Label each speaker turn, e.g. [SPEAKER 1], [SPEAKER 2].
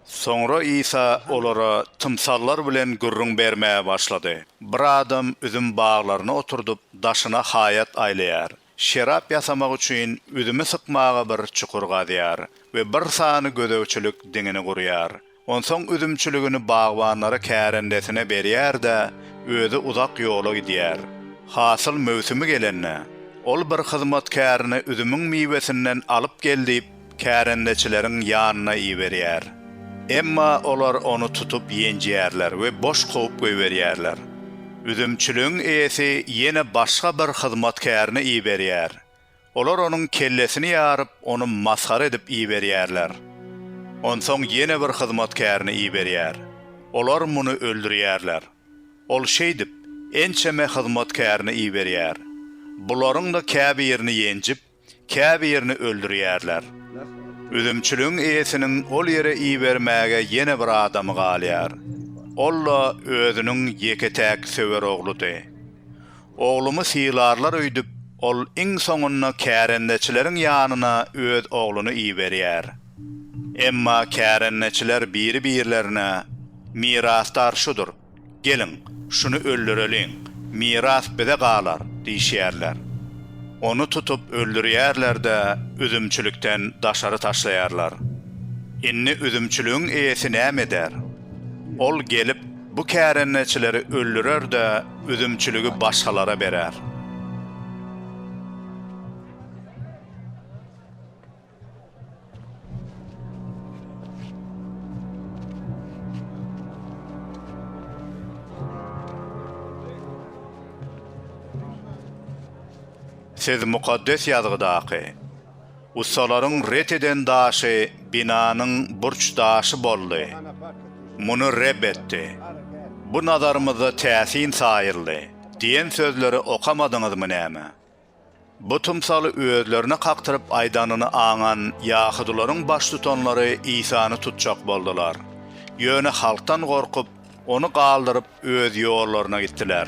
[SPEAKER 1] Soňra Isa olara tymsallar bilen gürrüň bermäge başlady, Bir adam üzüm baglaryny oturdyp, daşyna haýat aýlaýar. Şerap ýasamak üçin üzümi sykmaga bir çukur gazýar we bir sany gözegçilik diňini gurýar. Onsoň üzümçiligini bagbanlara kärendesine berýär-de, özi uzak ýola gidýär. Hasyl möwsümi gelende, ol bir hyzmatkärini üzümiň miwesinden alyp gel diýip, kärendeçileriň ýanyna iberýär. Emma olar ony tutup ýenjýärler we boş kowup goýberýärler. Üzümçiligiň eýesi ýene başga bir hyzmatkärini iberýär. Olar onuň kellesini ýaryp, ony masgara edip iberýärler. Onsoň ýene bir hyzmatkärini iberýär. Olar muny öldürýärler. Ol şeýdip, ençeme hyzmatkärini iberýär. Bularyň-da käbirini ýenjip, käbirini öldürýärler. Üzümçiligiň eýesiniň ol ýere ibermäge ýene bir adamy galýar. Ol-da özüniň ýeke-täk söwer ogludy. Oglumy sylarlar öýdüp, ol iň soňunda kärendeçileriň ýanyna öz ogluny iberýär. Emma kärendeçiler biri-birlerine, Mirasdar şudur, geliň, şuny öldüreliň, miras bize galar diýişýärler. Ony tutup öldürýärler-de, üzümçilikden daşary taşlaýarlar. Indi üzümçiligiň eýesi näme eder? Ol gelip. Bu kärendeçileri öldürer-de, üzümçiligi başgalara berer. Siz Mukaddes Ýazgydaky. Ussalaryň ret eden daşy binanyň burç daşy boldy. Muny Reb etdi. Bu nazarymyzda täsin saýyldy diýen sözleri okamadyňyzmy näme? Bu tymsaly özlerine kakdyryp aýdanyny aňan ýahudylaryň baştutanlary Isany tutjak boldular. Ýöne halkdan gorkup, ony galdyryp öz ýollaryna gitdiler.